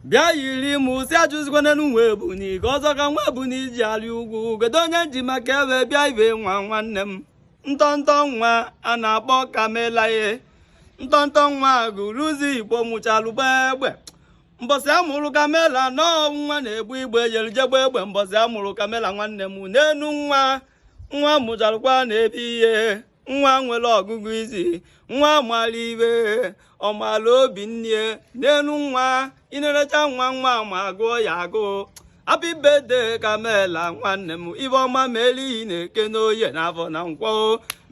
bịa yiri m si ajụzikwana nwa ebunu ka ọzọ ka nwa ebunu ji arị ugwu kedu onye m ji maka ya bịa ibe nwa nwanne m ntọntọ nwa a na-akpọ kamela ee ntọntọ nwa agụlụzigbo mụchalụ gbaa egbe mbọsị a mụrụ kamela nna nwa na-ebu egbe jelu je gbaa egbe mbọsị a mụrụ kamela nwanne m neenụ nwa nwa a mụchalụkwa a na-ebi ihe nwa nwere ọgụgụ isi nwa mara ife ọmala obi nne neenụ nwa i nenechaa nwa nwa ma agụọ ya agụụ happy birthday kamela nwanne m ife ọma meli n'eke n'oye n'afọ na nkwọ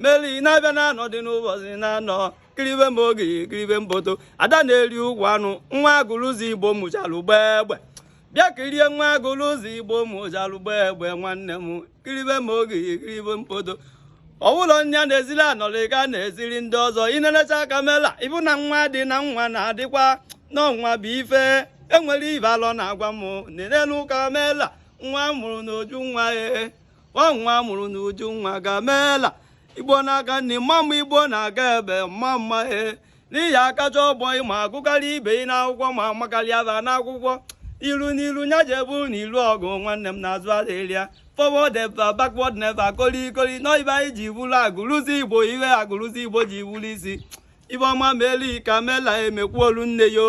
meli n'afịa na anọ dị n'ụbọchị na anọ kiribe m oge kiribe mbodo ada na-eri ukwu anụ nwa agụlụzigbo mụchara gbaa egbe bịa kirie nwa agụlụ ụzọ igbo mụchalụ gbaa egbe nwanne m kiribe ma oge kiribe mkpodo ọ bụrụ onye na-eziri anọrọ ị ga na-eziri ndị ọzọ i nenesịa kamela ị fụ na nwa dị na nwa na-adịkwa na nwa bụ ife enwere ibe alọ na-agwa m nenenụ kamela nwa a mụrụ n'uju nwa ee nwa a mụrụ n'uju nwa kamela igbo na-aga nne mma mma igbo na-aga ebe mma mma ee na ị ya-akacha ọgbọ ị ya-agụkarị ibe ị n'akwụkwọ ma amakarịa fa n'akwụkwọ iru n'iru nya jebe n'iru ọgụ nwanne m na azụ adịrọ ya forward ever backward never kolikoli na ọ ife anyị ji bụrụ agụlụzigbo ihe agụlụzigbo ji bụrụ isi ife ọma melụ kamela emekwu olu nne yo